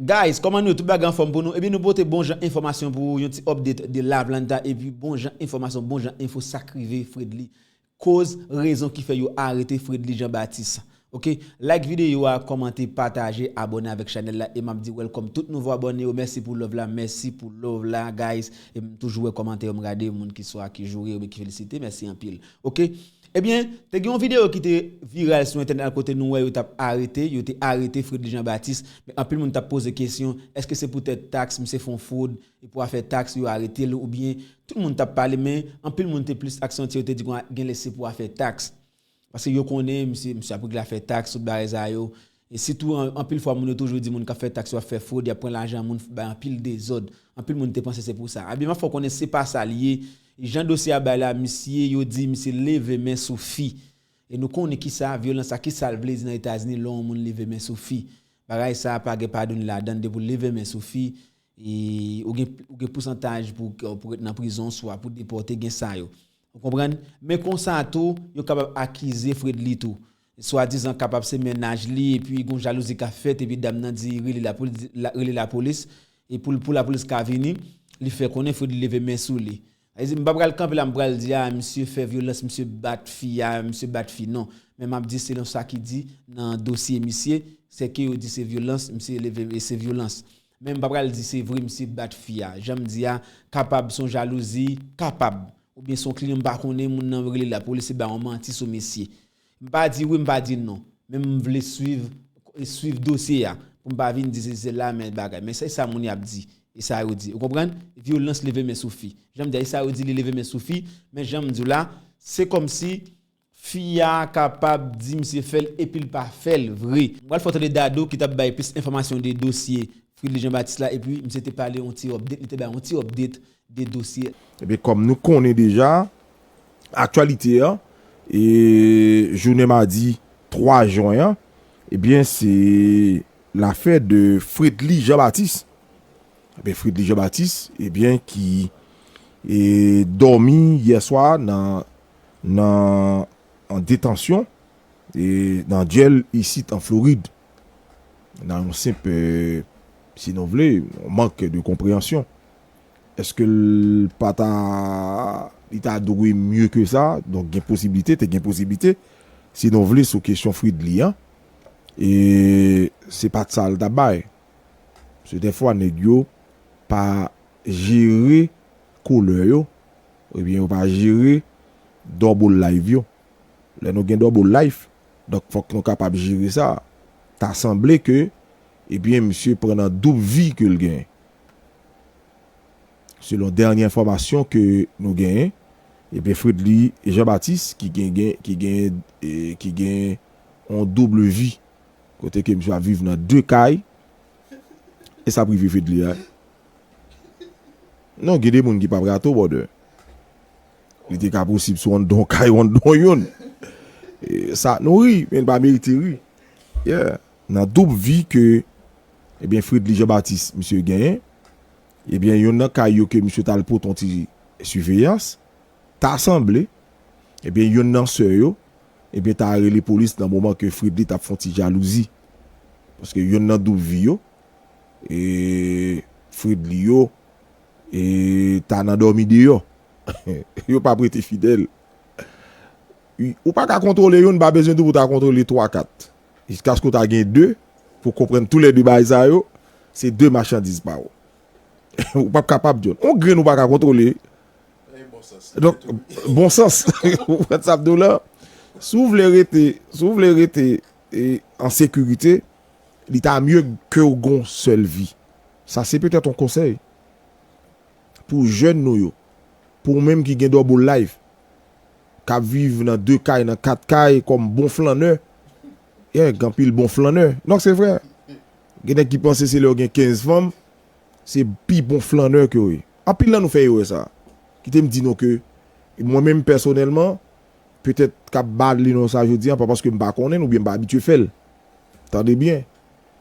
Guys koman nou ye tout bagay anfom pou nou ebyen nou pote bon jan enfomasyon pou ou yon ti update de laplanta epi bon jan enfomasyon bon jan enfo sak rive fredly koz rezon ki fè yo arete fredly jean baptiste ok like video a komante pataje abone avek chanel la e map di welcome tout nouvo abone yo mèsi pou love la mèsi pou love la guys em toujou wè komante yo m gade moun ki swa ki joure yo ki felisite mèsi anpil ok. Ebyen, te gen yon videyo ki te viral sou entènèt la kote nou wè yo t ap arete, yo te arete Fredly Jean Baptiste, men anpil moun t ap poze kesyon, èske se poutèt taks, misye fè yon fwod, e pou afè taks yo arete l oubyen, tout moun t ap pale men anpil moun te plis aksantye yo te di kon genlè se pou afè taks, paske yo konnen misye, misye ap regle afè taks, tout bagay sa yo. E sitou anpil fwa moun yo toujou di moun kap fè tax yo ap fè frod yap pran lajan moun bay anpil dezod anpil moun te panse se pou sa Abiman fè w konnen se pa sa l ye jan dosye a bay la misye yo di misye leve men sou fi e nou konnen kisa vyolans sa kisa l vle di nan etazini lè yon moun leve men sou fi bagay sa pa gen padoune ladann depi w leve men sou fi ou gen ou gen pousantaj pou pou ret nan prizon swa pou depòte gen sa yo ou konprann men konsa tou yo kapab akize fredly tou Swadizan kapab se mennaj li epi gon jalouzi ka fèt epi dam nan di rele la pou rele lapolis e pou pou lapolis ka vini li fè konnen Fredly leve men sou li sa vle di m pa pral kanpe la m pral di a misye fè vyolans misye bat fi a misye bat fi non men map di selon sa ki di nan dosye misye se ke yo di se vyolans misye leve e se vyolans men m pa pral di se vre misye bat fi a jan m di a kapab son jalouzi kapab oubyen son kliyan m pa konnen moun nan rele lapolis e ba yon manti sou misye M pa di wi m pa di non, men m vle swiv swiv dosye a pou m pa vin di sesi sela men bagay. Men se sa moun y ap di e sa yo di. Ou konprann? Vyolans leve men sou fi. Jan m di a e sa yo di li leve men sou fi, men jan m di w la se kòmsi fi a kapab di misye fè l epi l pa fè l vre. M pral fè w tande Dadou ki t ap bay plis enfòmasyon de dosye Fridley Jean Baptiste la epi misye te pale yon ti update, li te bay yon ti update de dosye. Ebyen kòm nou konnen deja aktyalite an e jounen madi 3 jwen an ebyen se lafè de Fredly Jean Baptiste ebyen Fredly Jean Baptiste ebyen ki e dòmi yè swa nan nan an detansyon e nan dyèl isit an Florid nan yon senp si nou vle mank de konpreyansyon. Eske l pa ta li ta dwe mye ke sa donk gen posiblite te gen posiblite si nou vle sou kesyon Fridly an e se pat sa l ta bay se dèfwa nèg yo pa jere kolè yo oubyen yo pa jere double live yo lè nou gen double life donk fòk nou kapab jere sa ta sanble ke ebyen misye pran nan doub vi ke l gen. Selon dènye enfòmasyon ke nou genyen, ebyen Fredly Jean Baptiste ki gen gen ki gen ki gen yon double vie kote ke misye ap viv nan 2 kay e sa prive Fedly a non gen de moun ki pap rate w brother li te ka posib sou anndan yon kay ou anndan yon sa nou ri men li pa merite ri yeah. Nan doub vi ke ebyen Fridly Jean Baptiste misye genyen, ebyen yonn nan kay yo ke misye t al pot yon ti siveyans, ta sanble ebyen yonn nan sè yo ebyen ta rele polis nan moman ke Fridly t ap fon ti jalouzi. Paske yonn nan doub vi yo e Fridly yo e ta nan dòmi deyò. Yo pa p rete fidèl. Ou pa ka kontwole yonn, pa bezwen tou pou ta kontwole twa kat. Jiskaske w ta gen de pou w konprann tou lè de bagay sa yo se de machandiz pa w. Ou pap kapab di yo. Yon grenn ou pa ka kontwole. Donk, bon sans. Ou konprann sa m di w la? Si w vle rete, si w vle rete an sekirite, li ta mye ke w gen yon sèl vi. Sa se petèt yon konsèy pou jèn nou yo, pou ou menm ki gen double life. k ap viv nan de kay, nan kat kay kòm bon flannè. Yè, gen anpil bon flannè. Non, se vre. Gen nèg ki panse se lè yo gen kenz fanm, se pi bon flannè ke yo ye. Anpil nan nou fè erè sa a. Kite m di nou ke mwen menm pèsonèlman, petèt k ap bale non sa jodi a pa paske m pa konnen l oubyen m pa abitye fè l. Tande byen.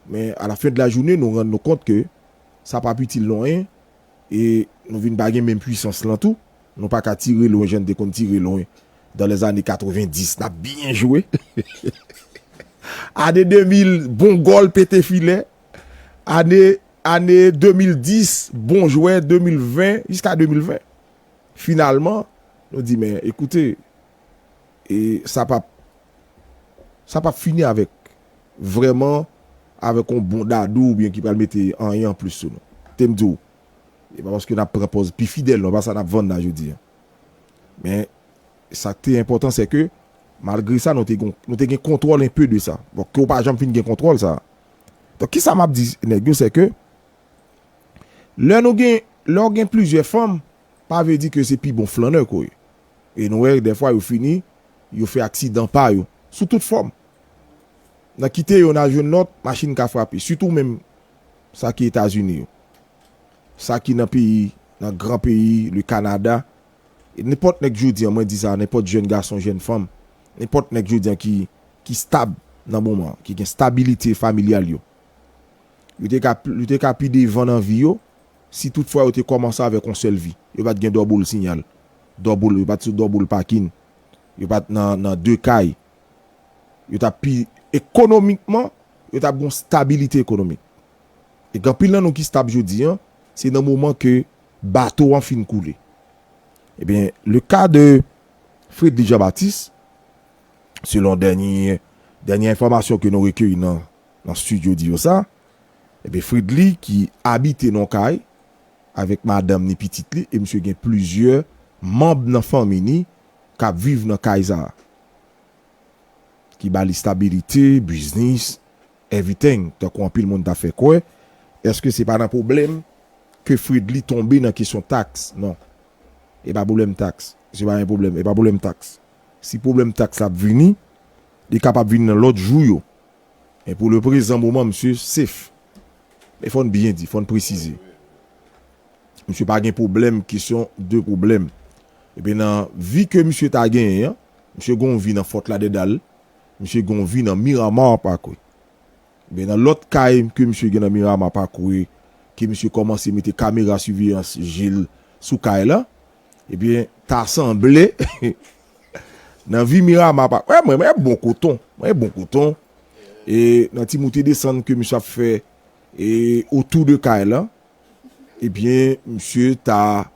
Men alafendlajounen nou rann nou kont ke sa p ap itil nou anyen e nou vin pa gen menm pwisans lan tou. Nou pa ka tire lwen jan n te konn tire lwen dan lè zane 90 n ap byen jwe ane 2000 bon gòl pete filè ane ane 2010 bon jwè 2020 jiska 2020 finalman nou di men ekoute e sa pap sa pap fini avèk vrèman avèk yon bon dadou oubyen ki pral mete anyen anplis sou nou te m di w E pa paske n ap pran pòz pi fidèl non, e pa sa n ap vann la jodi a. Men, sa k te enpòtan se ke malgre sa nou te gon, nou te gen kontwòl enpe de sa. Bon, ke w pa janm fin gen kontwòl sa a. Donk ki sa m ap di nèg yo se ke lè nou gen, lè w gen plizyè fanm pa vle di ke se pi bon flannè ke w ye. E nou wè dèfwa yo fini, yo fè aksidan pa yo sou tout fòm. Nan kite yo nan jwenn lòt, machin ka frape. Sitou menm. Sa ki etazini yo. Sa ki nan peyi nan gran peyi le kanada e nenpòt nèg jodi an mwen di sa a nenpòt jèn gason jèn fanm nenpòt nèg jodi an ki ki stab nan moman an ki gen stabilite familyal yo yo te ka yo te ka pi devan nan vi yo si tout fwa yo te kòmanse avèk on sèl vi yo pat gen dòboul sinyal dòboul yo pat sou dòboul pakin yo pat nan nan de kay yo t ap pi ekonomikman, yo t ap gen yon stabilite ekonomik. E gen anpil nan nou ki stab jodi an, se nan moman ke bato an fin koule. Ebyen, le ka de Fredly Jean Baptiste, selon dènye, dènye enfòmasyon ke nou rekeyi nan study audio sa, ebyen Fredly ki abite nan yon kay avèk madanm ni pitit li e misye gen plizyè manb nan fanmi ni k ap viv nan kay sa. ki ba li stabilite, biznis, eviteng, tankou anpil moun ta fè kwè, eske se pa nan pwoblèm ke Fredly tonbe nan kesyon taks? Non. E pa pwoblèm taks. Se pa yon pwoblèm. E pa pwoblèm taks. Si pwoblèm taks la ap vini, li kapab vini nan lòt jou yo. Men pou leprezan moman misye safe. Men fò n byen di, fò n presize. Misye pa gen pwoblèm kesyon de pwoblèm. Ebyen nan vi ke misye ta genyen an, misye gen yon vi nan Fort Lauderdale, misye gen yon vi nan Miramar Parkway. Ebyen nan lòt kay ke misye gen nan Miramar Parkway, ke misye kòmanse mete kamera siveyans je l sou kay la, ebyen ta sanble nan vi Miramar Parkway, mwen gen bon koton, mwen gen bon koton, e nan ti moute desann ke misye ap fè e otou de kay la, Ebyen misye ta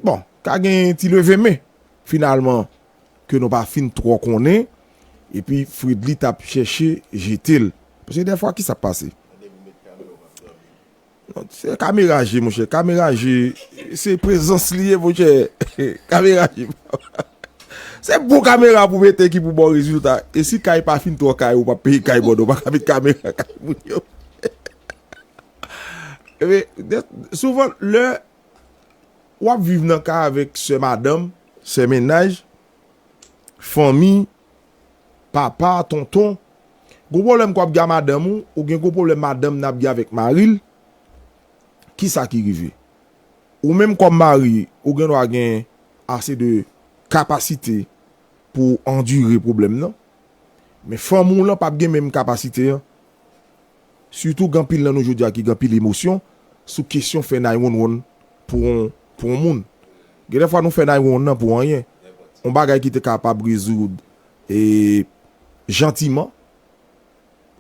bon ka gen yon ti leve men finalman ke nou pa fin twò konnen epi Fredly ta ap chèche jete l. Paske dèfwa kisa k ap pase? Se kamera je monchè, kamera je se prezans li ye monchè. Kamera je se bon kamera pou mete ki pou ba w rezilta. E si kay pa fin twò kay ou pa p peye kay bon ou pa ka met kamera kay moun yo. Epi, souvan, lè w ap viv nan kay avèk sè madanm, sè mennaj, fanmi, papa, tonton, gwo pwoblèm ke w ap gen a madanm ou, ou gen gwo pwoblèm madanm nan ap gen avèk mari l, ki sa ki rive? Ou menm kòm mari, ou gen dwa gen ase de kapasite pou w andire pwoblèm nan, men fanm ou lan p ap gen menm kapasite an. Sitou gen anpil nan nou jodi a ki gen anpil emosyon sou kesyon fè nay wonwon pou yon pou yon moun. Gen de fwa nou fè nay wonwon nan pou anyen, yon bagay ki te kapab rezoud e jantiman.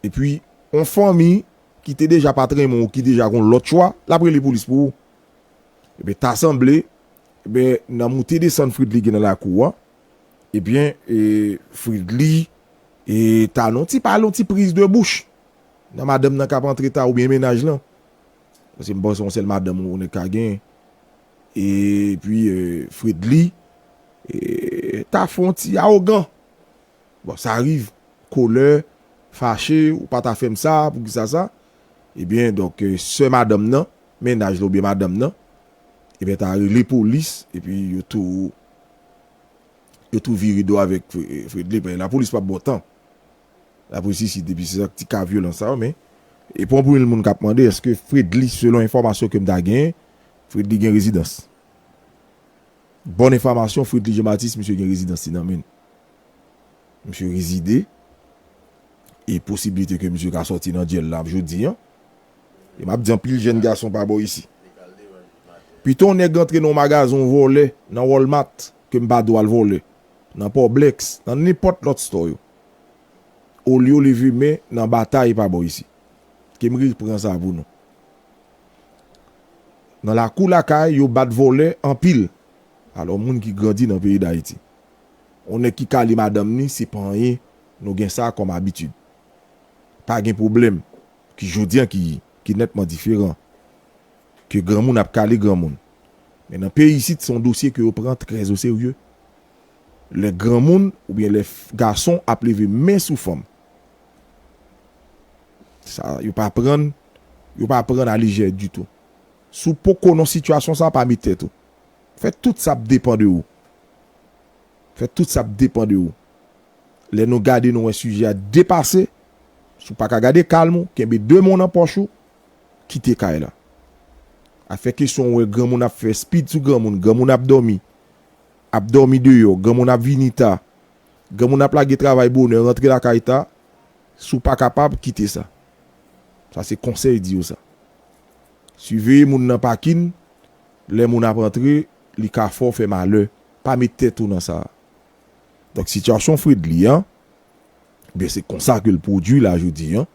E pi yon fanmi ki te deja pa t renmen w, ki deja gen yon lòt chwa, l ap rele polis pou ou. Ebyen ta sanble, ebyen nan moute desann Fridley gen nan lakou an, Ebyen e Fridly e ta non ti pale yon ti priz de bouch nan madanm nan kap antre ta oubyen mennaj lan paske m panse yon sèl madanm yon nèg ka gen e pi Fridly e ta fon ti awogan bon sa riv kolè fache ou pa ta fèm sa poukisa sa ebyen donk sè madanm nan mennaj la oubyen madanm nan ebyen ta rele polis epi yo tou. Yo tou vire do avèk Fredly paske lapolis pap baw tan. Lapolis isit depi se ak ti ka vyolans sa yo men e pou anpil moun kap mande eske Fredly selon enfòmasyon kem ta genyen Fredly gen rezidans. Bòn enfamasyon Fredly Jean Baptiste misye gen rezidans li nan menl. Misye rezide e posibilite ke misye ka sòti nan dyèl la jodi an E map di anpil jèn gason pa bò isi. Pito yon nèg antre nan yon magazen yon vòlè nan Walmart ke m pa do al vòlè nan Poblex nan nenpòt lòt stò yo. Olyo leve men nan batay pa bò isi. Ke m repran sa pou nou. Nan lakou lakay yo bat vòlè anpil. Alò moun ki grandi nan peyi Dayiti. Yon nèg ki kale madanm ni se pa anyen nou gen sa kòm abitid. Pa gen pwoblèm. ki jodi an ki ki nètman diferan, ke granmoun ap kale granmoun. Men nan peyi isit se yon dosye ke yo pran trè oserye. Lè granmoun oubyen lè gason ap leve men sou fanm, sa yo pa prann, yo pa prann a lejè ditou. Si w poko nan sitiyasyon sa, pa met tèt ou. Fè tout sa ap depan de ou. Fè tout sa ap depan de ou. Lè nou gade nou wè sijè a depase, si w pa ka gade kalm ou, kenbe 2 men w nan pòch ou, kite kay la. Afè kesyon ou wè granmoun ap fè spid sou granmoun, granmoun ap dòmi, ap dòmi deyò, granmoun ap vini ta, granmoun ap lage travay bonè rantre lakay ta, si w pa kapab, kite sa. Sa se konsèy di yo sa. Siveye moun nan pakin, lè moun ap antre, li ka fè w fè malè, pa met tèt ou nan sa. Donk sitiyasyon Fredly an, ebyen se konsa ke l pwodui la jodi an,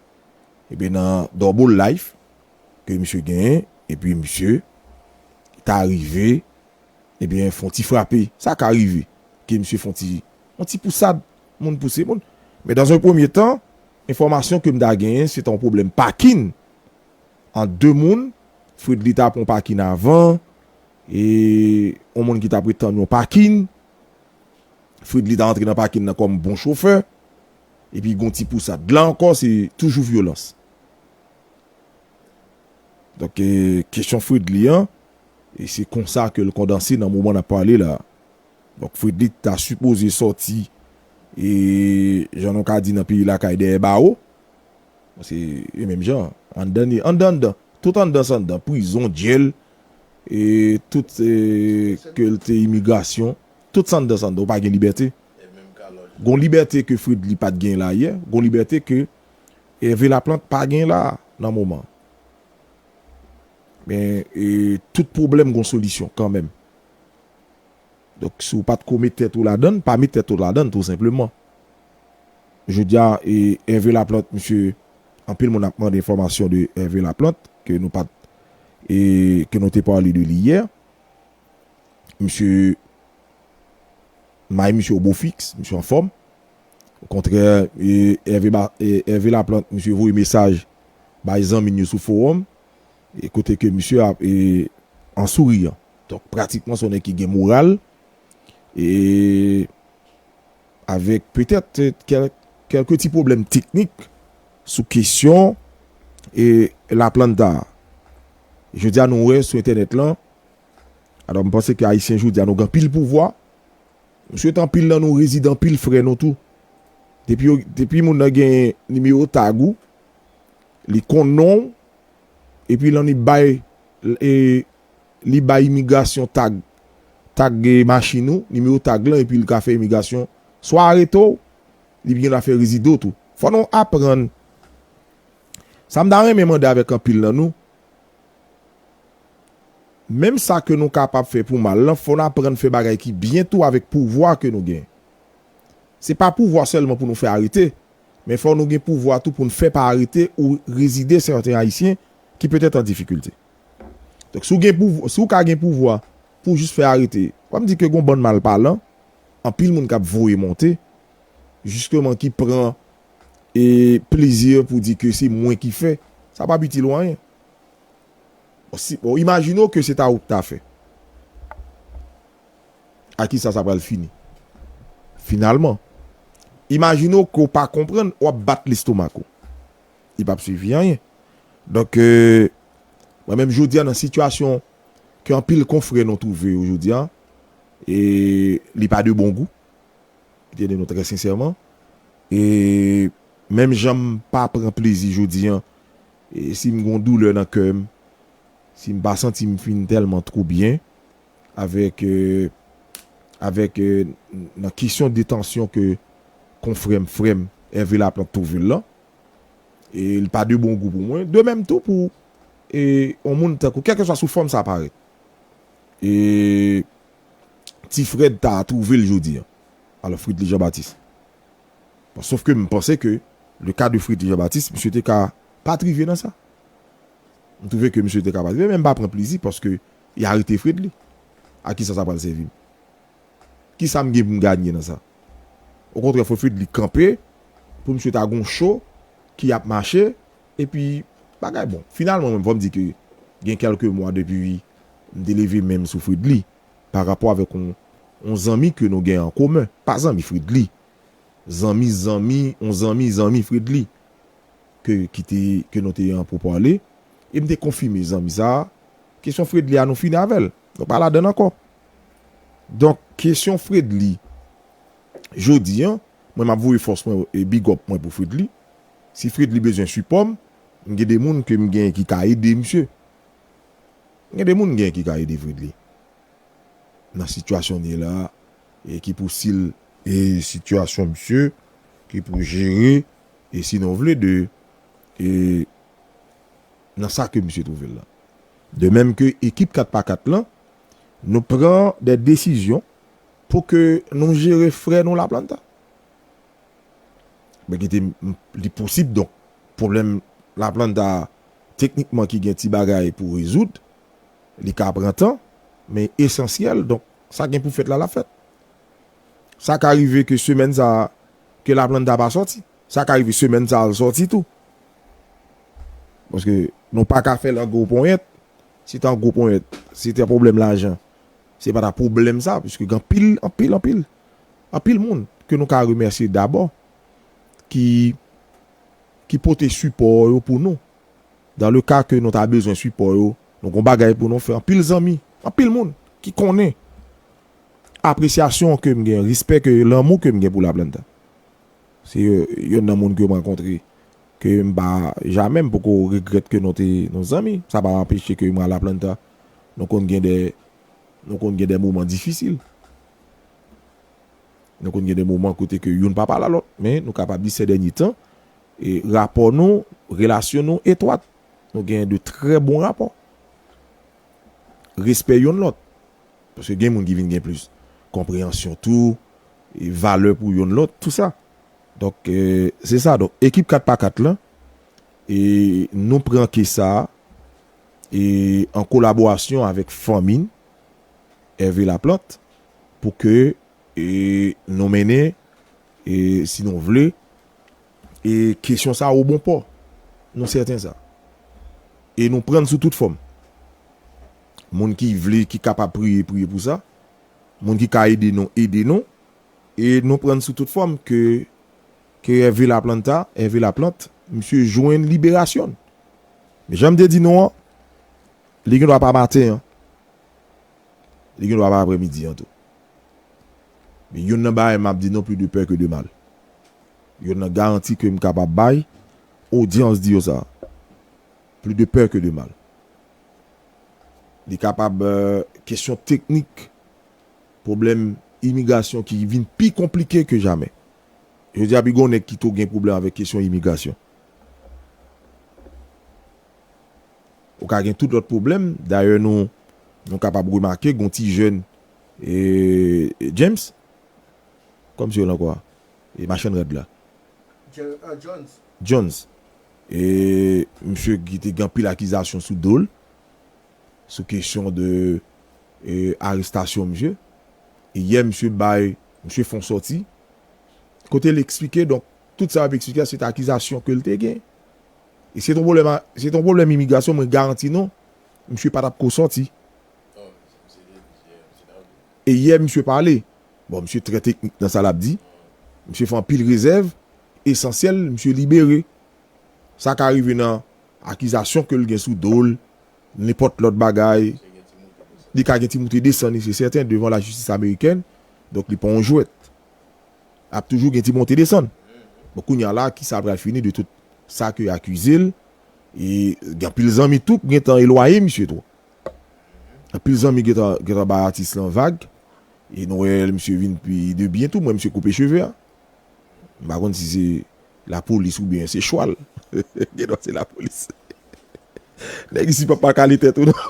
ebyen nan double life ke misye genyen, epi misye ta rive ebyen fon ti frape, sa ka rive ke misye fon ti, yon ti pousad, moun pouse moun. Men dans un premier tan, enfòmasyon ke m ta genyen se ta yon pwoblèm pakin ant 2 moun, Fredly ta pran yon pakin avan, e yon moun ki ta pre tann yon pakin, Fredly ta antre nan pakin nan kòm bon chofè epi gon ti pousad. La ankò se toujou vyolans. Donk kesyon Fredly an e se konsa ke l kondanse nan moman n ap pale la. Donk Fredly ta sipoze sòti e jan nou ka di nan peyi lakay dèyè bawo. Se menm jan anndan anndan tout anndan san anndan prizon, dyèl e tout ke l te imigrasyon, tout san dan san dan, ou pa gen libète. Gon libète ke Fredly pa t gen la yè, gon libète ke Hervé Laplante pa gen la nan moman. Men, e tout pwoblèm gon solisyon kanmenm. Donk, si w pa t ko met tèt ou ladan l, pa met tèt ou ladan l tou senpleman. Jodi a, e Hervé Laplante, misye, anpil moun ap mande enfòmasyon de Hervé Laplante, ke nou pa t. E ke nou te pale de li yè. Misye mayi misye o bofix, misye anfòm. Okontrè Hervé Laplante misye voye mesaj bay zanmi n yo sou fowòm e kote ke misye ap an souriyan. Donk pratikman se yon nèg ki gen moral e. avèk petèt kèlke ti pwoblèm teknik sou kesyon La Planta a. Jodi a nou wè sou entènèt lan, alò m panse ke Ayisyen jodi a nou gen anpil pouvwa. M swete anpil nan nou rezide anpil frè nou tou. Depi moun nan gen nimewo tag ou, li konn non w, epi lan li bay li bay imigrasyon tag tag machin ou nimewo tag lan epi li ka fè imigrasyon swa arete w li gendwa fè rezide w tou fò nou aprann sa m ta renmen mande avèk anpil nan nou menm sa ke nou kapab fè pou mal lan fò n aprann fè bagay ki byen tou avèk pouvwa ke nou gen. Se pa pouvwa sèlman pou nou fè arete, men fò nou gen pouvwa tou pou n fè pa arete ou rezide sèten Ayisyen ki petèt an difikilte. Donk, si w gen pouvwa, si w ka gen pouvwa pou w jis fè arete, pa m di ke gen yon bann malpalan, anpil moun k ap voye monte, jisteman ki pran e plezi pou di ke se mwen ki fè, sa p ap itil ou anyen. Bon, si, bon, imajine w ke se ta ou ki ta fè. A kisa sa pral fini finalman? Imajine w ke w pa konprann, w ap bat lestomak ou. Li p ap sèvi anyen. Donk, mwen menm jodi a nan sitiyasyon ke anpil konfrè nou twouve yo jodi a, e li pa de bon gou, pou te di nou trè sensèman. E menm jan m pa pran plezi jodi a, si m gon doulè nan kè m, si m pa santi m fin tèlman twou byen, avèk avèk nan kesyon detansyon ke konfrèm frèm Hervé Laplante twouve l lan e li pa de bon gou pou mwen de menm tou pou e yon moun tankou kèlkeswa sou fòm sa parèt e ti Fred ta twouve l jodi an alò Fritely Jean Baptiste bon sof ke m panse ke le ka de Fritely Jean Baptiste misye te ka pa t rive nan sa m twouve ke misye te ka pa t rive men m pa pran plezi paske Ya rete fredly? A kisa sa pral sèvi m? Kisa m gen pou m ganye nan sa? Okontrè fò fredly kanpe pou misye ta gon cho ki ap mache epi bagay bon finalman menm fò m di ke gen kelke mwa depi m te leve men m sou fredly pa rapò avèk yon yon zanmi ke nou gen an komen pa zanmi fredly zanmi zanmi yon zanmi zanmi fredly. ke ki te ke nou te an pou pale e m te konfime zanmi sa a kesyon Fredly a nou fini avè l nou pa ladann ankò donk kesyon Fredly jodi an mwen m ap voye fòs mwen e bigòp mwen pou Fredly si Fredly bezwen sipò m m gen de moun ke m gen ki ka ede misye m gen de moun m gen ki ka ede Fredly nan sitiyasyon li ye la a e ki pou si l. E sitiyasyon misye ki pou jere. E si nou vle de e nan sa ke misye twouve l lan. De menm ke ekip 4 pa 4 lan, nou pran dè desizyon pou ke nou jere frè nou Laplanta. Ben kite m li posib donk pwoblèm Laplanta teknikman ki gen ti bagay pou rezoud, li ka pran tan, men esansyèl donk sa gen pou fèt la l ap fèt. Sa ka rive ke semèn sa Ke la planta pa sòti. Sa ka rive semèn sa al sòti tou. Paske nou pa ka fèl an gwo ponyèt. Si te an gwo ponyèt, si te pwoblèm lajan, se pa ta pwoblèm sa. Piske gen anpil, anpil, anpil, anpil moun ke nou ka remèsye dabò ki ki pote sipò yo pou nou. Dan le ka ke nou ta bezwen sipò yo, nou gen yon bagay pou nou fè. Anpil zanmi, anpil moun ki konnen apresyasyon ke m gen, respè ke, lanmou ke m gen pou Laplanta. Se yonn nan moun ke m rankontre ke m pa jamè m poko regrèt ke nou te nou zanmi. Sa pa anpeche ke mwen Laplanta nou konn gen dè nou konn gen dè moman difisil. Nou konn gen dè moman kote ke youn pa pale a lòt. Men nou kapab di sè dènye tan e rapò nou, relasyon nou etwat. Nou gen de trè bon rapò. Respè yonn lòt. Paske gen moun ki vin gen plis konpreyansyon tou, valè pou yonn lòt, tou sa. Donk, se sa. Donk, ekip 4 pa 4 lan, nou pran ke sa an kolaborasyon avèk fanmi n, Hervé Laplante, pou ke nou mennen, si nou vle, E kesyon sa o bon pò. Nou sèten sa. E nou prann sou tout fòm. Moun ki vle, ki kapab priye, priye pou sa. Moun ki ka ede nou, ede nou. E nou prann sou tout fòm ke ke Hervé Laplanta, Hervé Laplante, misye jwenn liberasyon l. Men jan m te di nou an, li gen dwa pa maten an. Li gen dwa pa aprè midi an tou. Men yonn nan bagay map di non plus de peur que de mal. Yonn nan garanti kem kapab bay odyans di yo sa. Plus de peur que de mal. Li kapab kesyon teknik pwoblèm imigrasyon ki vin pi konplike ke jamè. Jodi a pi gwo nèg ki tou gen pwoblèm avèk kesyon imigrasyon. Ou ka gen tout lòt pwoblèm, dayè nou kapab remake gon ti jèn Eeeee James? Kòmsi yo lan kò a? E machann rad la? Jones. Jones. Eeeee msye ki te gen anpil akizasyon sou do l, sou kesyon de arestasyon msye. E yè msye bay, msye fon sòti, kote l eksplike donk tout sa map eksplike a se te akizasyon ke l te gen. E si se te yon pwoblèm imigrasyon mwen garanti nou msye pa tap ko sòti. E yè misye pale, bon misye trè teknik nan sa lap di, misye fè anpil rezèv, esansyèl misye libere. Sa ka rive nan akizasyon ke l gen sou do l, nenpòt lòt bagay, li ka gen ti moute desann li se sèten devan lajistis amerikèn, donk li pa yon jwèt. Ap toujou gen ti monte desann. Bon kounye a la kisa pral fini de tout sa ke yo akize l, e gen anpil zanmi tou k gen tan elwaye misye tou. Anpil zanmi gentan bay atis lan vag e nou wè misye vin pi de byen tou mwen misye koupe cheve a m pa konn si se lapolis oubyen se chwal gendwa se lapolis nèg isi pap pa kale tèt ou non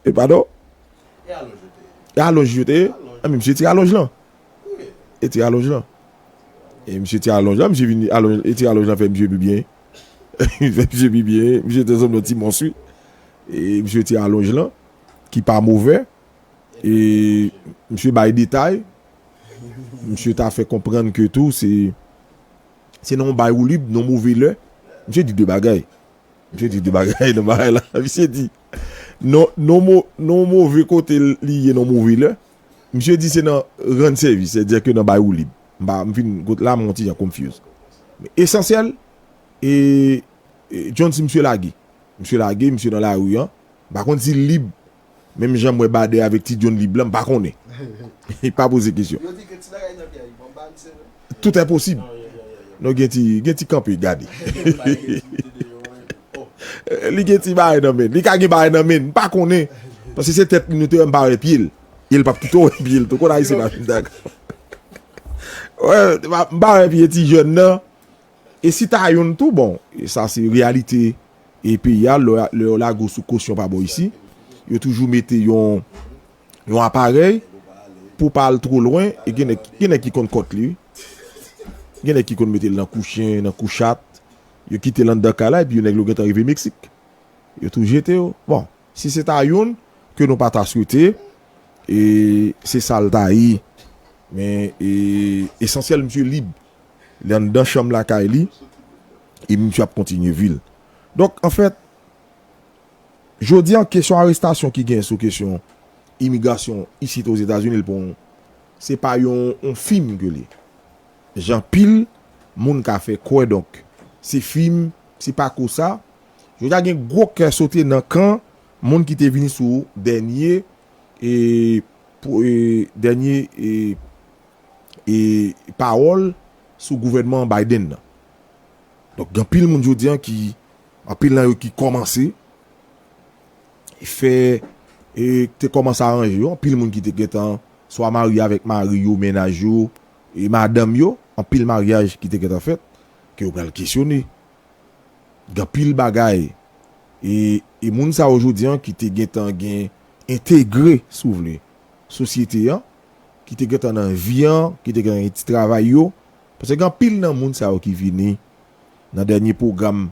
e padon e alonj yo te ye anben misye tire alonj lan e tire alonj lan e misye tire alonj lan misye vin alonj e tire alonj lan fè misye pi byen Fè misye pi byen. Misye te sanble yon ti mons wi. E misye ti alonj lan. Ki pa movè. E misye bay detay. Misye ta fè konprann ke tou se. Se nan yon bay woulib, nan yon move lè. Misye di de bagay. Misye di de bagay nan bagay la. Misye di. Nan yon move kote li ye nan yon move lè. Misye di se nan rann sèvis. Se dè ke nan bay woulib. mba m fin got la m yon ti jan confuse men esansyèl e John si misye lage misye lage misye nan lari an m pa konn si l lib menm jan m wè Bader avèk ti John lib la m pa konnen e pa poze kesyon tout enposib non gen ti gen ti kanpe gade li gen ti bagay nan men li ka gen bagay nan men m pa konnen paske se tèt li nou te wè m pa wè pye l. El pap kite w wè pye l tou. Ou konn Ayisyen pa fin dakò. M pa wè pye ti jèn nan. E si ta youn tou bon. Sa se reyalite e peyi a. Lè yo lage w sou kosyon pa bò isi. Yo toujou mete yon yon aparèy pou w pa al two lwen. E gen nèg gen nèg ki konn kont li wi. Gen nèg ki konn mete l nan kou chen, nan kou chat. Yo kite l anndan kay la epi yo nèg yo gentan rive Meksik. Yo tou jete yo. Bon. Si se ta youn ke nou pa ta swete, e se sa l ta ye. Men, esansyèl misye lib. Li anndan chanm lakay li, e misye ap kontinye vi l. Donk, anfèt, jodi a, kesyon arestasyon ki gen sou kesyon imigrasyon isit Ozetazini, l pa yon, se pa yon fim ke l ye. Jan pil moun ka fè kwè, donk, se fim, se pa ko sa, Yo ta gen gwo kè sote nan kan moun ki te vini sou dènye pawòl sou gouvènman Biden nan. Donk gen anpil moun jodi an ki, anpil nan yo ki kòmanse fè, te kòmanse aranje yo, anpil moun ki te gentan swa marye avèk mari yo, menaj yo, madanm yo, anpil maryaj ki te gentan fèt, ke yo pral kesyone gen anpil bagay e moun sa yo jodi an ki te gentan gen entegre si w vle sosyete an, ki te gentan nan vi an, ki te gentan gen ti travay yo, paske gen anpil nan moun sa yo ki vini nan dènye pwogram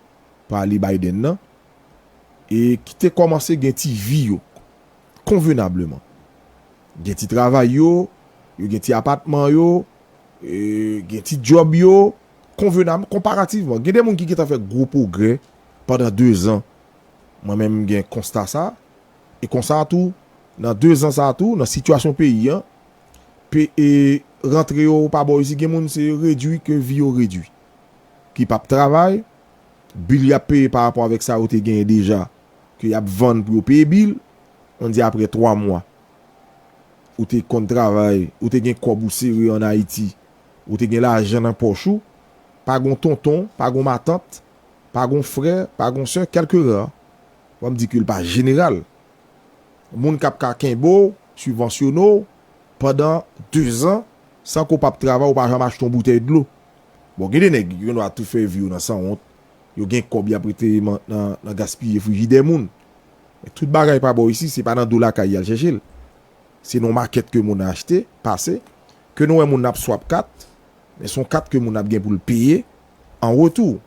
pa ale Biden nan e ki te kòmanse gen ti vi yo konvenableman. Gen ti travay yo, yo gen ti apatman yo, gen ti djòb yo, Konvenabl, konparativman, gen de moun ki gentan fè gwo pwogrè pandan dezan, mwen menm m gen konsta sa, e konsa a tou, nan dezan sa a tou, nan sitiyasyon peyi an, pe e rantre yo pa bon isi, gen moun se redui ke vi yo redui, ki p ap travay, bil y ap peye pa rapò avèk sa yo te genyen deja, ke y ap vann pou yo peye bil, an di apre twa mwa, ou te konn travay, ou te gen kòb ou sere an Ayiti, Ou te gen lajan nan pòch ou, pa gon tonton, pa gon matant, pa gon frè, pa gon sè, kèlke ra, banm di ke l pa jeneral, moun k ap ka kenbe w, sibvansyone w pandan dezan san ke w pa p travay, ou pa janm achte yon boutèy dlo. Bon, gen de nèg yo gendwa tou fè vi yo nan sanwont, yo gen kòb y ap rete nan gaspiye frijidè moun. Men tout bagay pa bò isi, se pa nan do lakay y al chèche l. Se nan makèt ke moun achte, pase, ke nou wè moun ap swap kat, men son kat ke moun ap gen pou l peye an retou.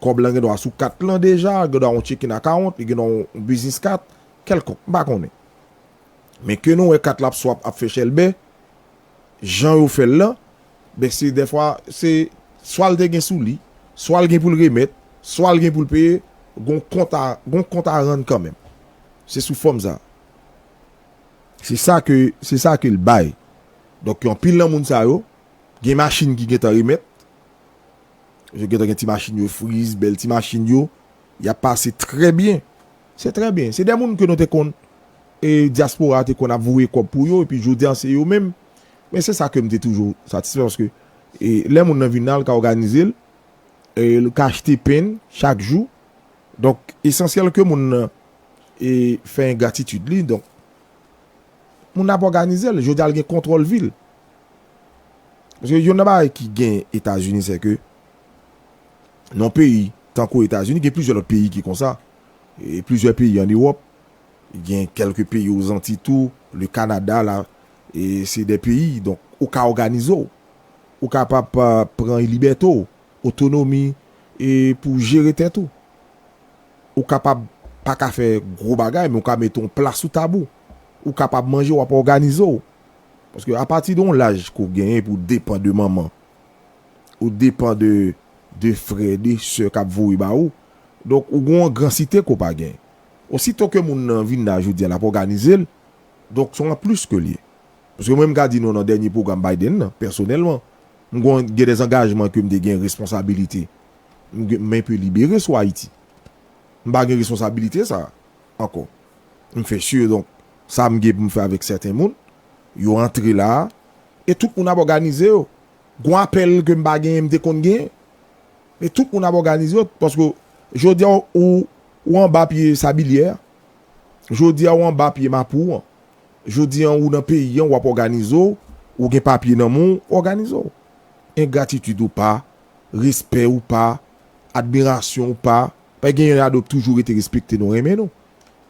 Kòb lan gendwa sou kat lan deja, gendwa yon checking account, li gendwa yon business kat, kèlkonk, m pa konnen. Men ke nou wè kat la ap swap, ap fè chèlbè, jan yo fè l lan, ben se dèfwa, se swa l te gen sou li, swa l gen pou l remèt, swa l gen pou l peye, gon kont a, gon kont a rann kanmenm. Se sou fòm sa. Se sa ke, se sa ke l bay. Donk yon pil nan moun sa yo, gen machin ki gentan remèt. Yo gentan gen ti machin yo friz, bèl ti machin yo. Y ap pase trè byen. Se trè byen. Se de moun ke nou te konn, e dyaspora a te konn ap voye kòb pou yo, epi jodi a se yo menm. Men se sa ke m te toujou satisfè, paske e lè moun nan vin la, l ka òganize l, e l ka achte pen chak jou. Donk esansyèl ke moun nan. E fè engratitid li. Donk, moun nan ap òganize l. Jodi a l gen kontwòl vi l. Paske youn nan bagay ki gen Etazini se ke nan yon peyi tankou Etazini, gen plizyè lòt peyi ki konsa. E plizyè peyi an Ewòp. Gen kèlke peyi o Zanti tou. Le Kanada la. E se de peyi. Donk, ou ka òganize w. Ou ka pa pran libète w. Otonomi. E pou w jere tèt ou. Ou kapab pa ka fè gwo bagay men ou ka mete yon pla sou tab ou. Ou kapab manje, w ap òganize w. Paske apati de yon laj ke w genyen epi w depan de manman, ou depan de frè, de sè k ap voye ba ou. Donk ou gen yon angransite ke w pa genyen. Osito ke moun nan vin la jodi a l ap òganize l, donk se yon anplis ke l ye. Paske mwen m ka di nou nan dènye pwogram Biden nan, pèsonèlman, m gen dè angajman ke m te gen, responsabilite. M gen men pe libere sou Ayiti. M pa gen responsabilite sa a ankò. M fè sure donk sa m gen pou m fè avèk sèten moun yo antre la a e tout moun ap òganize yo. Gon apèl ke m pa genyen m te konn genyen men tout moun ap òganize yo paske jodi a ou ou anba pye Sabilyè a, jodi a ou anba pye Mapou an, jodi a ou nan peyi an ou ap òganize w, ou gen papye nan men w, òganize w. Engratitid ou pa. respè ou pa, admirasyon ou pa, men gen ladan yo k toujou rete respekte nou, renmen nou.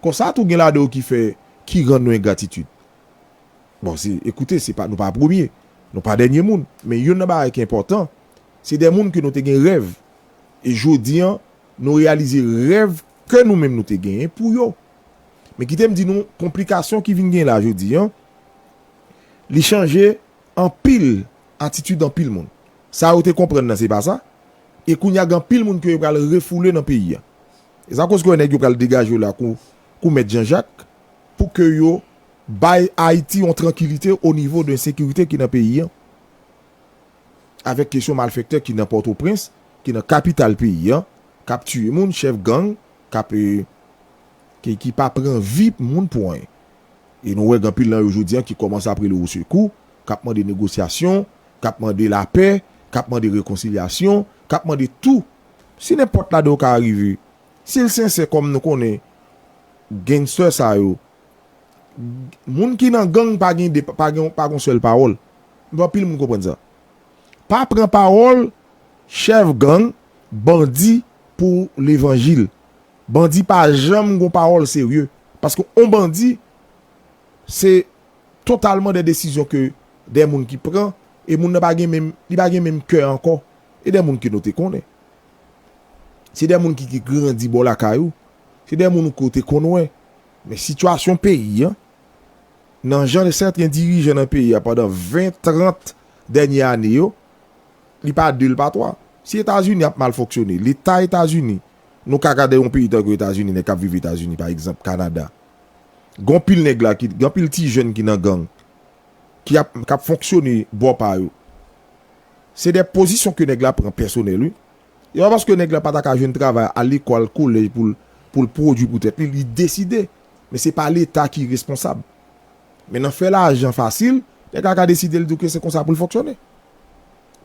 Konsa tou gen ladan yo ki fè, ki rann nou engratitid. Bon se, ekoute se pa nou pa premye, nou pa dènye moun, men youn nan bagay ki enpòtan, se de moun ke nou te gen rèv, e jodi an nou reyalize rèv kè nou menm nou te genyen pou yo. Men kite m di nou, konplikasyon ki vin gen la jodi an, li chanje. anpil atitid anpil moun. Sa yo te konprann nan se pa sa, e kounye a gen anpil moun ke yo pral refoule nan peyi a. E sa koz ke nèg yo pral degaje yo la kou kou mèt Janjak pou ke yo bay Ayiti yon trankilite o nivo de ensekirite ki nan peyi an, avèk kesyon malfèktè ki nan Pòtoprens, ki nan kapital peyi an, k ap tiye moun, chèf gang k ap, ki pa pran vi moun pou anyen. E nou wè gen anpil nan yo jodi an ki kòmanse ap rele osekou, k ap mande negosyasyon, k ap mande lapè, k ap mande rekonsilyasyon, k ap mande tou. Si nenpòt ladan yo ka arive, si l sensè kòm nou konnen gangster sa yo, moun ki nan gang pa gen de, pa gen, pa gen yon sèl pawòl. M vle anpil moun konprann sa. Pa pran pawòl chèf gang, bandi pou levanjil. Bandi pa janm gon pawòl serye paske on bandi se totalman de desizyon ke de moun ki pran e moun nan pa gen menm li pa gen menm kè ankò e de moun ke nou te konnen se de moun ki te grandi bò lakay ou se de moun ou ke ou te konn wè men sitiyasyon peyi a nan jan sèten dirijan nan peyi a pandan 20 30 dènye ane yo li pa 2 li pa 3 si etazini ap mal fonksyone leta etazini Nou ka gade yon peyi tankou Etazini, nèg k ap viv Etazini pa egzanp, Kanada. Gen anpil nèg la ki, gen anpil ti jèn ki nan gang, ki ap, k ap fonksyone bò pa yo. Se de pozisyon ke nèg la pran pèsonèl wi. E pa paske nèg la pa ta ka jwenn travay, al lekòl, al kolèj pou l, pou l pwodui pou tèt li, li deside. Men se pa Leta ki responsab. Men nan fè lajan fasil, nèg la ka deside l di w ke se konsa pou l fonksyone.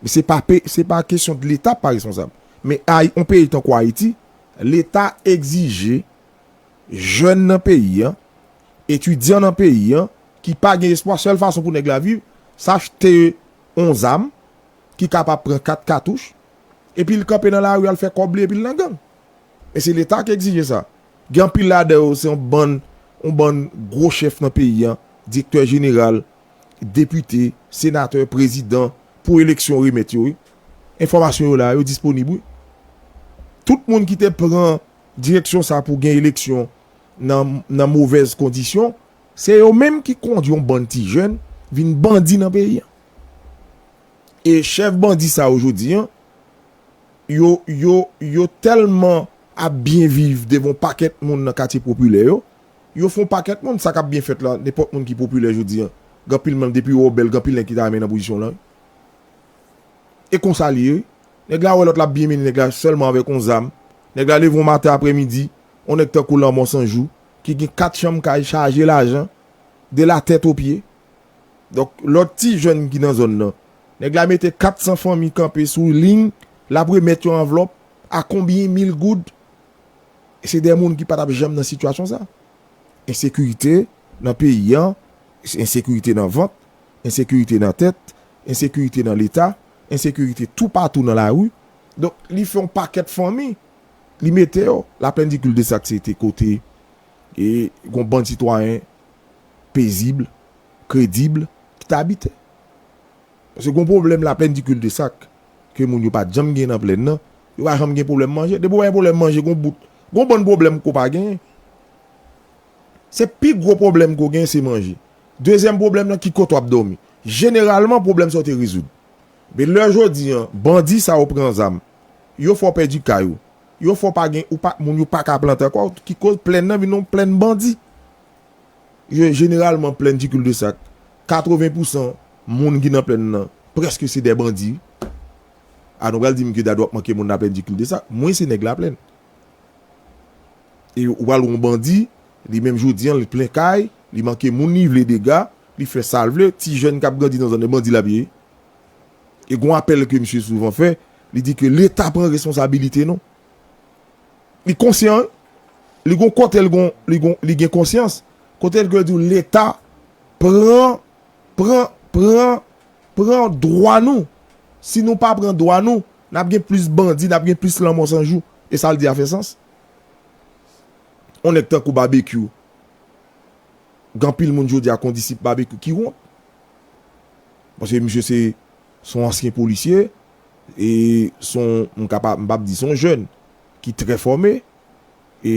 Se pa pe, se pa kesyon de leta pa responsab. Men ay, yon peyi tankou Ayiti, leta egzije jèn nan peyi an, etidyan nan peyi an, ki pa gen espwa, sèl fason pou nèg la viv, se achte yon zam, ki kapab pran 4 katouch, epi l kanpe nan lari al fè kòb li epi l nan gang. Men se leta ki egzije sa. Gen anpil ladan yo se yon bann, yon bann gwo chèf nan peyi an, direktè jeneral, depite, senatè, prezidan pou eleksyon remèt yo wi. Enfòmasyon yo la, yo disponib wi. Tout moun ki te pran direksyon sa pou gen eleksyon nan movèz kondisyon, se yo menm ki kondwi yon bann ti jèn vin bandi nan peyi an. E chèf bandi sa yo jodi an, yo tèlman ap byen viv devan yon pakèt moun nan katye popilè yo, Yo fon pakèt moun sa kap byen fèt la nenpòt moun ki popilè jodi an gen anpil moun depi wè w bèl gen anpil nèg ki ta renmen nan pozisyon w lan wi e konsa li ye wi nèg la wè lòt lap byen mennen nèg la sèlman avèk yon zam nèg la leve yon maten aprè midi yon nèg tankou lanmò san jou ki gen 4 chanm kay chaje lajan de la tèt o pye donk lòt ti jèn ki nan zòn nan nèg la mete 400 fanmi kanpe sou ling lap remèt yon anvlòp a konbyen mil goud. Se de moun ki pa t ap janm nan sitiyasyon sa. Ensekirite nan peyi an, ensekirite nan vant, ensekirite nan tèt, ensekirite nan leta, ensekirite toupatou nan lari. Donk, li fè yon pakèt fanmi, li mete yo. La pèndikil de sa se te kote gen yon bann sitwayen pezib, kredib ki t abite. Paske gon pwoblèm laplèn di kil de sak ke moun yo pat janm gen nan plèn nan, yo pa janm gen pwoblèm manje. Depi w pa gen pwoblèm manje gon bout, gon bann pwoblèm ke w pa genyen. Se pi gwo pwoblèm ke w genyen se manje. Dezyèm pwoblèm lan ki kote w ap dòmi. Jeneralman pwoblèm sa yo te rezoud. Men lè jodi an bandi sa yo pran zam, yo fè w pèdi kay ou, yo fè w pa gen, ou pa, moun yo pa ka plante ankò, ki koz plèn nan vin yon plèn bandi. Yo jeneralman plèn ti kildesak. 80 pousan moun ki nan plèn nan prèske se dè bandi. A nou pral di m ke dadu ap manke moun laplèn ti kildesak. Mwen se nèg laplèn. E ou pral wè yon bandi, li menm jodi an li plen kay, li manke moun li vle dega, li fè sa l vle, ti jèn k ap grandi nan zòn nan bandi l ap ye. E gen yon apèl ke misye souvan fè, li di ke leta pran responsabilite nou. Li konsyan wi. Li gon kotel gon li gon li gen konsyans. Kotel gen diw leta pran pran pran pran dwa nou. Si nou pa pran dwa nou nap gen plis bandi nap gen plis lanmò san jou. E sal di a fè sans? On nèg tankou Babekyou gen anpil moun jodi a kondisip Babekyou ki wont. Paske misye se son ansyen polisye. e son m ka pa m pap di son jèn ki trè fòme e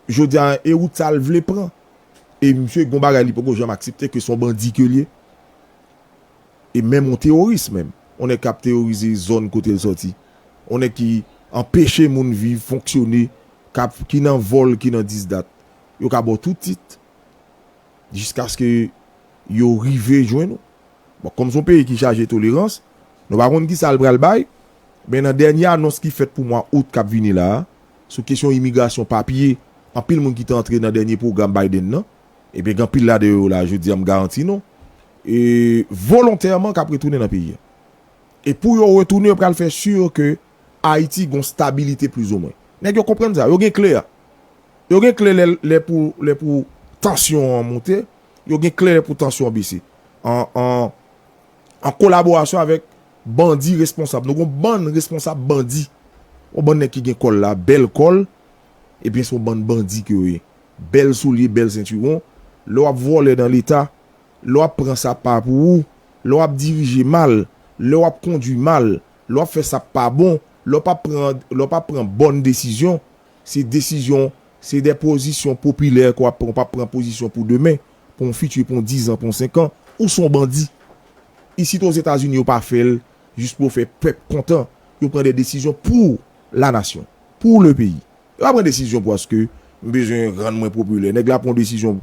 jodi a e wout sa l vle pran e misye gon bagay li poko janm aksepte ke son bandi ke l ye e menm on teworis menm on nèg kap teworize zòn kote l sòti on nèg ki anpeche moun viv fonksyone kap ki nan vòl ki nan disdat yo ka ba w tout tit jiskaske yo rive jwenn ou. Bon, kòm son peyi ki chaje tolerans, nou pa konn kisa l pral bay, men nan dènye anons ki fèt pou mwa Out k ap vini la a, sou kesyon imigrasyon, papye, anpil moun ki te antre nan dènye pwogram Biden nan, ebyen gen anpil ladan yo la a jodi a m garanti nou, e volontèman k ap retounen nan peyi a. E pou yo retounen yo pral fè sur ke Ayiti gon stabilite plizoumwen. Nèg yo konprann sa, yo gen kle a. Yo gen kle lè pou tansyon an monte, yo gen kle pou tansyon an bese an kolaborasyon avèk bandi responsab. Nou gon bann responsab bandi. Yon bann nèg ki gen kòl la, bèl kòl, ebyen se yon bann bandi ke yo ye. Bèl soulye, bèl sentiwon. Lè w ap vòlè nan leta, lè w ap pran sa pa pou ou, lè w ap dirije mal, lè w ap kondwi mal, lè w ap fè sa pa bon, lè w pa pran bòn desizyon, Se desizyon, se de pozisyon popilè ke w ap pran, ou pa pran pozisyon pou demen, pou yon fiti, pou yon dizan, pou yon senkan. Ou se yon bandi. Isit o Zetazini yo pa fè l jis pou yo fè pèp kontan. Yo pran de desizyon pou la nasyon, pou le peyi. Yo pa pran desizyon paske m bezwen rann mwen popilè. Nèg la pran yon desizyon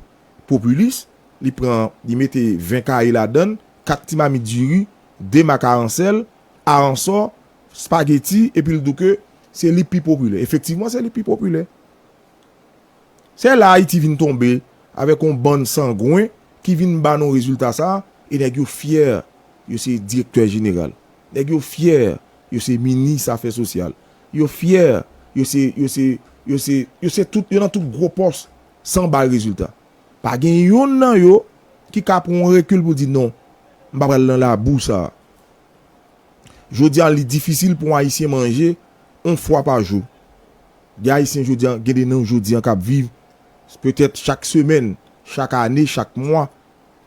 popilis, li pran, li mete 20 kaye ladan l, 4 ti mamit diri, 2 mak aransèl, aransò, Spaghetti epi l di w ke se li pi popilè. Efektivman se li ki pi popilè. Se la Ayiti vin tonbe avèk yon bann sangwen ki vin ba nou rezilta sa a e nèg yo fyè yo se direktè jeneral. Nèg yo fyè yo se minis afè sosyal. Yo fyè yo se, yo se, yo se, yo se tout, yo nan tout gwo pòs san bay rezilta. Pa gen yonn nan yo ki ka pran yon rekil pou di non, m pa pral nan labou sa a. Jodi a li difisil pou ayisyen manje yon fwa pa jou. Gen ayisyen jodi a, gen de nan jodi a kap viv petèt chak semèn, chak ane, chak mwa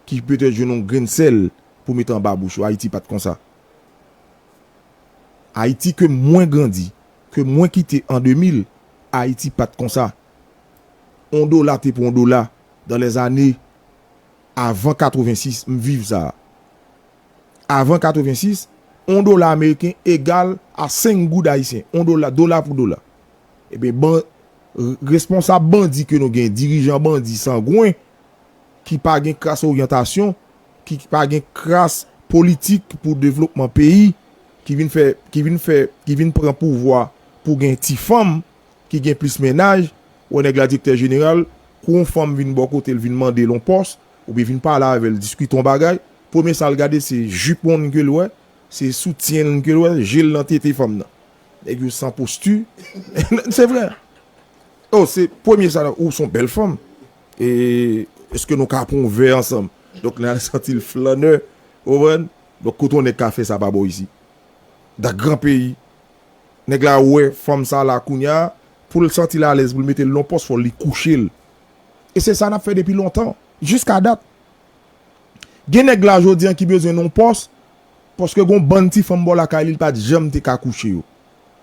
ki petèt jwenn yon grenn sèl pou met anba bouch yo. Ayiti pat konsa. Ayiti ke mwen grandi, ke mwen kite an 2000, Ayiti pat konsa. Yon dola te pou yon dola dan lè zane avan 86, m viv sa. avan 86, on dola ameriken egal a 5 goud ayisyen, on dola, dola pou dola. Ebyen, ban, responsab bandi ke nou gen, dirijan bandi sangwen, ki pa gen kras oryantasyon, ki pa gen kras politik pou devlopman peyi, ki vin fè, ki vin fè, ki vin pran pouvwa pou gen ti fanm, ki gen plis mennaj, wè nèg la direktè jeneral, kou on fanm vin bò kote l vin mande l on pòs, oubyen vin pale avè l, diskite on bagay, premye sal gade se jupon li ke l wè, se soutyen li ke l wè, je l nan tete fanm nan. Nèg yo san posti, se vre. Oh se premye sa nan, ou son bèl fanm, e eske nou ka pran yon vè ansanm? Donk li al santi l flannè, ou konprann? Donk kote yon nèg ka fè sa pa bò isit? Dan gran peyi. Nèg la wè fanm sa la kounya, pou l santi l alèz pou l mete l nan yon pòs fò li kouche l. E se sa n ap fè depi lontan, jiska dat. Gen nèg la jodi an ki bezwen yon pòs paske gon bann ti fanm bò lakay li li pat janm te ka kouche yo.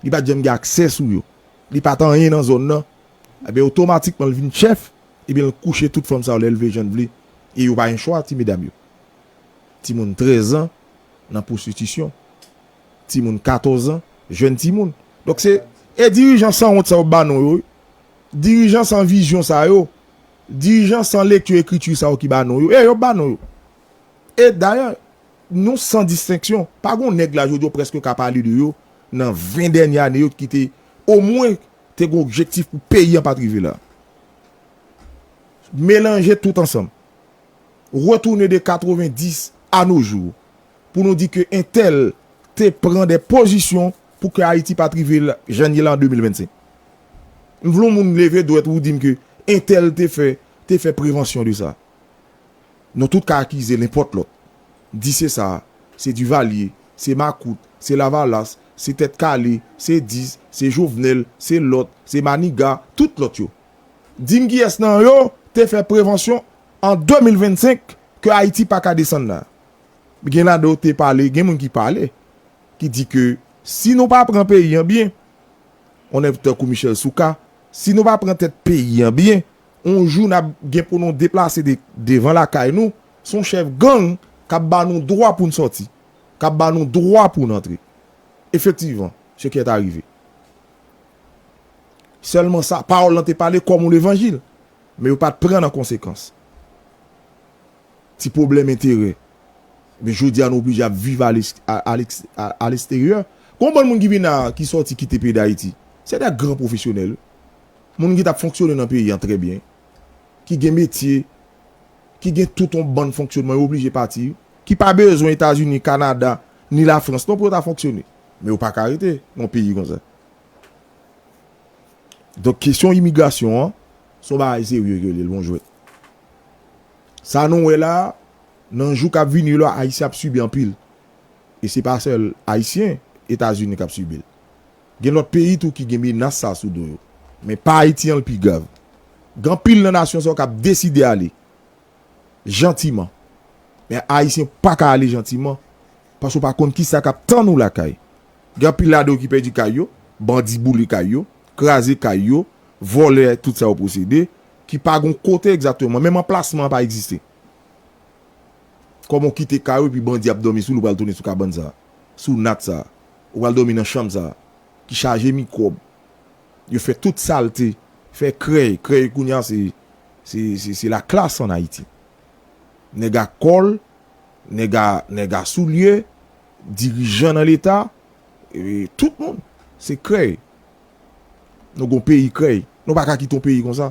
Li pat janm gen aksè sou yo. Li pat anyen nan zòn nan. Ebyen otomatikman li vin chèf ebyen li kouche tout fanm sa yo lè li vle jan li vle e yo pa gen chwa ti medam yo. Timoun 13 an nan pwostitisyon. Timoun 14 an, jèn timoun. Donk se e dirijan sanwont sa yo ba non yo wi. Dirijan san vizyon sa yo Dirijan san lekti ekriti sa yo ki ba non yo, e yo ba non yo. E dayè, nou san distenksyon, pa gen yon nèg la jodi a ou prèske ka pale de yo nan 20 dènye ane yo ki te omwen te gen objektif pou peyi an pa t rive la. Melanje tout ansanm, retounen de 90 a no jou pou nou di ke entèl te pran de pozisyon Pou ke Ayiti pat rive jan ye la an 2025. M vle yon moun leve dwèt pou di m ke entèl te fè, te fè prevansyon de sa. Non tout ka akize nenpòt lòt. Di se sa, se Duvalier, se makout, se lavalas, se tèt kale, se dis, se Jovenel, se lòt, se Maniga, tout lòt yo. Di m kiyès nan yo te fè prevansyon an 2025 ke Ayiti pa ka desann la. Gen ladan yo te pale, gen moun ki pale. ki di ke si nou pa pran peyi an byen, yon nèg tankou Michel Souka, si nou pa pran tèt peyi an byen, yon jou n ap gen pou nou deplase devan lakay nou, se yon chèf gang k ap ba nou dwa pou n sòti, k ap ba nou dwa pou n antre. Efektivman, se kè ta rive. Sèlman sa, pawòl lan te pale kòm yon levanjil, men yo pa t pran an konsekans. Ti pwoblèm enterè. Ebyen jodi a nou oblije ap viv a lesteryè. Gen yon bann moun ki vin la a, ki sòti kite peyi Dayiti. Se dè gran pwofesyonèl. Moun ki t ap fonksyone nan peyi an trè byen. Ki gen metye, ki gen tout yon bann fonksyonman, yo oblije pati. Ki pa bezwen Etazini, Kanada, ni Lafrans non pou yo ta fonksyone. Men yo pa ka rete nan yon peyi konsa. Donk kesyon imigrasyon an, se yon bagay serye ke li ye, l pa yon jwèt. Sa nou wè la, nan jou kap vini yo la ayisyen ap sibi anpil. E se pa sèl ayisyen, etazini kap sibi l. Gen lòt peyi tou ki gen menas sa sou do yo. Men pa ayiti an l pi grav. Gen anpil nan nasyon sa yo kap deside ale jantiman. Men ayisyen pa ka ale jantiman paske w pa konn kisa kap tann ou lakay. Gen anpil ladan yo ki pèdi kay yo, bandi boule kay yo, kraze kay yo, vòlè tout sa yo posede, ki pa gon kote egzakteman, menm anplasman an pa egziste. Kòman w kite kay ou epi bandi ap dòmi sou li ou pral tounen sou kabann sa a, sou nat sa a, ou pral dòmi nan chanm sa a ki chaje mikwòb, yo fè tout salte, fè krèy, krèy kounye a se, se, se, se la classe an Ayiti. Nèg a kòl, nèg a, nèg a soulye, dirijan nan leta, e tout moun, se krèy. Nou gon peyi krèy. Nou pa ka kite yon peyi konsa.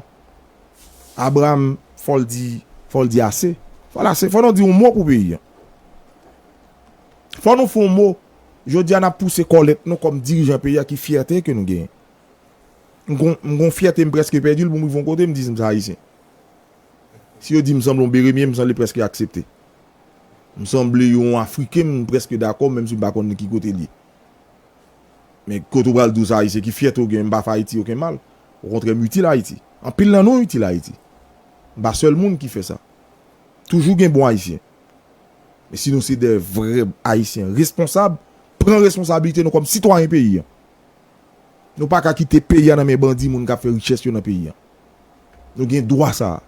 Abraham fò l di, fò l di ase. Fò l ase. Fò nou di yon mo pou peyi an. Fò nou fè yon mo. Jodi a n ap pouse kòlèt nou kòm dirijan peyi a ki fyète ke nou genyen. M gon, m gon fyète m prèske pèdi l pou m rive yon kote m di m se Ayisyen. Si yo di m sanble yon Beremye m sanble prèske aksepte. M sanble yon Afriken m prèske dakò menm si m pa konn ki kote l ye. Men, kote ou pral di ou se Ayisyen, ki fyète ou gen, m pa fè Ayiti oken mal. Okontrè, m itil Ayiti. Anpil nan nou itil Ayiti. M pa sèl moun ki fè sa. Toujou gen bon Ayisyen. Men si nou se de vrè Ayisyen responsab, pran responsabilite nou kòm sitwayen peyi an. Nou pa ka kite peyi a nan men bandi moun ka fè richès yo nan peyi a. Nou gen dwa sa a.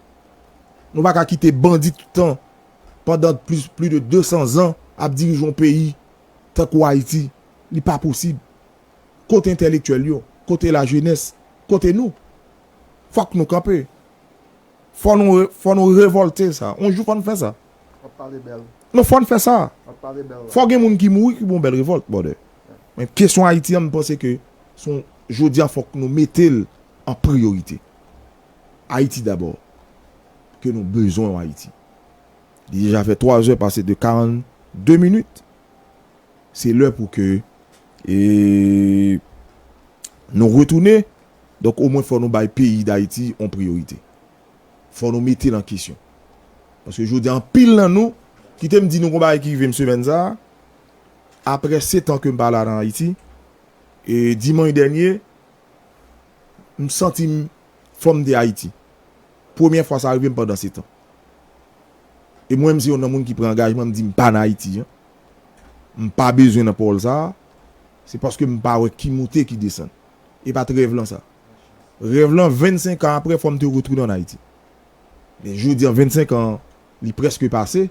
Nou pa ka kite bandi tout tan, pandan plis de 200 zan, ap dirije yon peyi tankou Ayiti. Li pa posib. Kote entèlektyèl yo? Kote la jenès? Kote nou? Fòk nou kanpe. Fò nou fò nou revòlte sa. On jou fò n fè sa. Wap pale bèl. Non fò n fè sa. Wap pale bèl la. Fò gen moun ki mouri ki pou yon bèl revòlt brother. Men kesyon Ayiti an m panse ke son jodi a fòk nou mete l an priyorite. Ayiti dabò. Ke nou bezwen yon Ayiti. Li deja fè 3 zè pase de 42 minit. Se lè pou ke nou retounen. Donk omwen fò nou bay peyi Dayiti yon priyorite. Fò nou mete l an kesyon. Paske jodi a anpil nan nou, kite m di nou yon bagay ki rive m semèn sa a, aprè setan ke m pa la nan Ayiti, e dimanch dènye, m santi m fò m te Ayiti. Premyè fwa sa rive m pandan setan. E mwen m se yon nan moun ki pran angajman m di m pa nan Ayiti jan m pa bezwen nan pawòl sa a se paske m pa wè ki moute ki desann. E pa t rèv lan sa. Rèv lan 25 an aprè fò m te retounen an Ayiti. Men jodi an 25 an an li prèske pase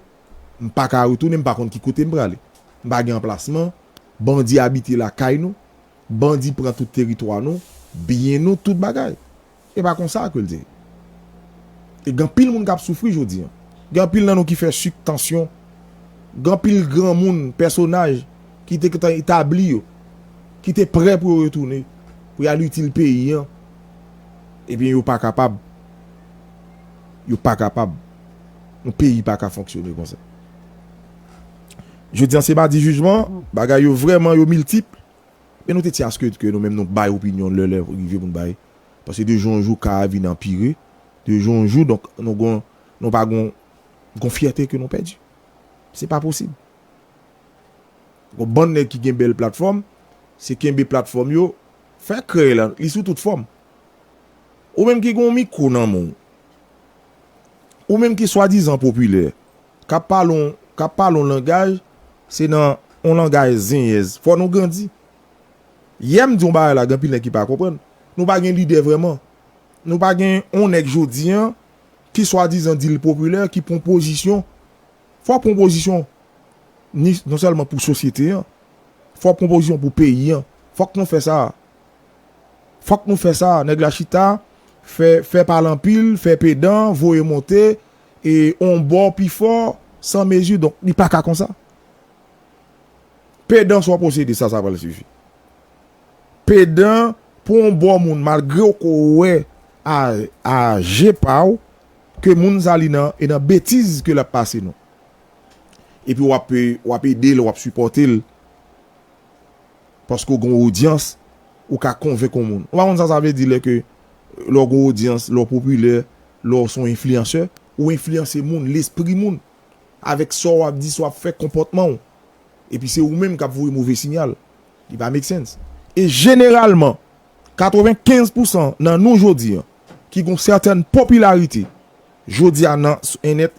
m pa ka retounen m pa konn ki kote m prale. M pa gen anplasman, bandi abite lakay nou, bandi pran tout teritwa nou, byen nou, tout bagay. E pa konsa ke l te ye. E gen anpil moun k ap soufri jodi an. Gen anpil nan nou ki fè sik, tansyon. Gen anpil granmoun, pèsonaj ki te gentan etabli yo, ki te prè pou yo retounen, pou y al itil peyi an, ebyen yo pa kapab. Yo pa kapab. Yon peyi pa ka fonksyone konsa. Jodi an se madi jijman, bagay yo vrèman yo miltipl. Men nou te ti aske ke nou menm nou bay opinyon lè lè rive pou n bay. Paske de jou an jou ka a vin anpire. De jou an jou donk nou gon nou pa gon gon fyète ke nou pèdi. Se pa posib. Gon bann nèg ki gen bèl platfòm, se kenbe platfòm yo, fè kreye la, li sou tout fòm. Ou menm ki gon mikwo nan men w, ou menm ki swadizan popilè, K ap pale on K ap pale on langaj Se nan on langaj zenyèz Fò nou grandi Yè m di on bagay la Gen anpil nèg ki pa konprann Nou pa gen lidè vrèman Nou pa gen on nèg jodi an Ki swadizan di l popilè Ki pran on pozisyon Fò w pran on pozisyon Ni non sèlman pou sosyete an Fò w pran on pozisyon pou peyi an Fòk nou fè sa a Fòk nou fè sa a Nèg la chita Fè fè pale anpil Fè pedan Voye monte e on bò pi fò san mezi donk li pa ka konsa pedan sa w posede sa sa pral sifi pedan pou on bò moun malgre w ko wè a je pa w ke moun sa li nan e nan betiz ke l ap pase non epi w ap ede l w ap sipòte l Paske w gen yon odyans, ou ka konvenk yon moun. Ou pa konn sa sa vle di lè ke lè w gen yon odyans, lè w popilè, lè w se yon enfliyansè, ou enfliyanse moun, lespri moun, avèk sa w ap di, sa w ap fè, konpòtman w. Epi se ou menm k ap voye move sinyal. Li pa make sense. E jeneralman, 95 pousan nan nou jodi an, ki gen yon sètèn popilarite jodi a nan, sou ènèt,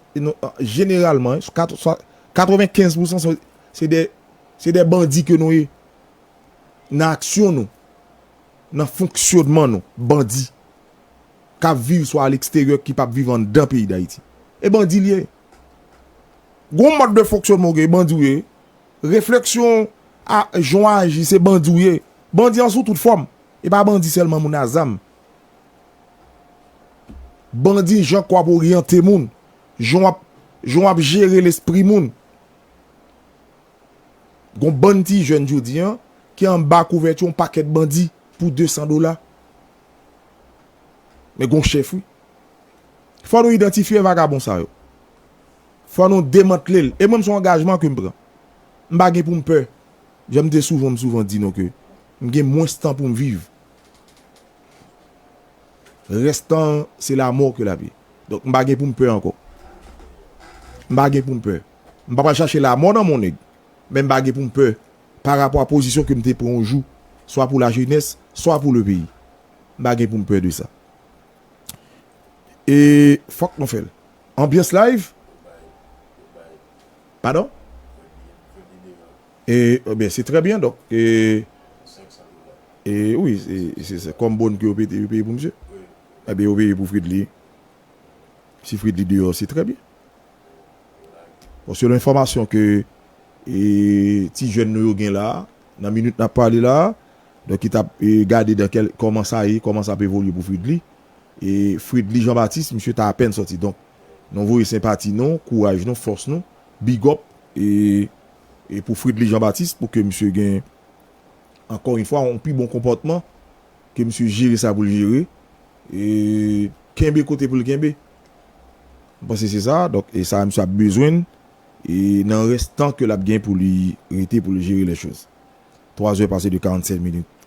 jeneralman, 95 pousan se de Se de bandi ke nou ye. Nan aksyon nou, nan fonksyonman nou, bandi. Kap viv swa aleksteryè ki pap viv anndan peyi Dayiti. E bandi li ye. Gon mòd de fonksyonman ou gen, e bandi ou ye. Refleksyon, a, jan ou aji, se bandi ou ye. Bandi an sou tout fòm. E pa bandi sèlman moun a zam. Bandi jan ke wap oryante moun. Jan wap, jan wap jere lespri moun. Gon bann ti jèn jodi an ki anba kouvèti yon pakèt bandi pou 200 dola. Men gon chèf wi. Fò nou idantifye vagabon sa yo. Fò nou demantle l. E mwen m son angajman ke m pran. M pa gen pou m pè. Jan m te souvan m souvan di nou ke m gen mwens tan pou m viv. Rès tan an, se lamò ke l ap ye. Donk, m pa gen pou m pè ankò. M pa gen pou m pè. M pa pral chache lamò nan mon nèg, men m pa gen pou m pè parapò a pozisyon ke m te pran yon jou, swa pou lajenès, swa pou lepeyi. M pa gen pou m pè de sa. E fòk nou fè l. Anbyans live? Padon? E ben se trè byen donk e e wi se se kòm bon ke yo pete yo peye pou misye e ben yo peye pou Fredly si Fredly deyò se trè byen bon selon enfòmasyon ke e ti jèn nou yo gen la nan minit nap pale la donk ki tap e gade dan kèl kòman sa ye kòman sa ap evolye pou Fredly e Fredly Jean Baptiste misye ta apèn sòti donk nou voye senpati nou kouraj nou fòs nou bigòp e. E pou Fridly Jean Baptiste pou ke misye gen ankò yon fwa yon pi bon konpòtman, ke misye jere sa pou l jere, e kenbe kote pou l kenbe. Mwen panse se sa, donk e sa misye ap bezwenn e nan rès tan ke l ap gen pou li rete pou li jere lè choz. Twa zè pase de 45 minit.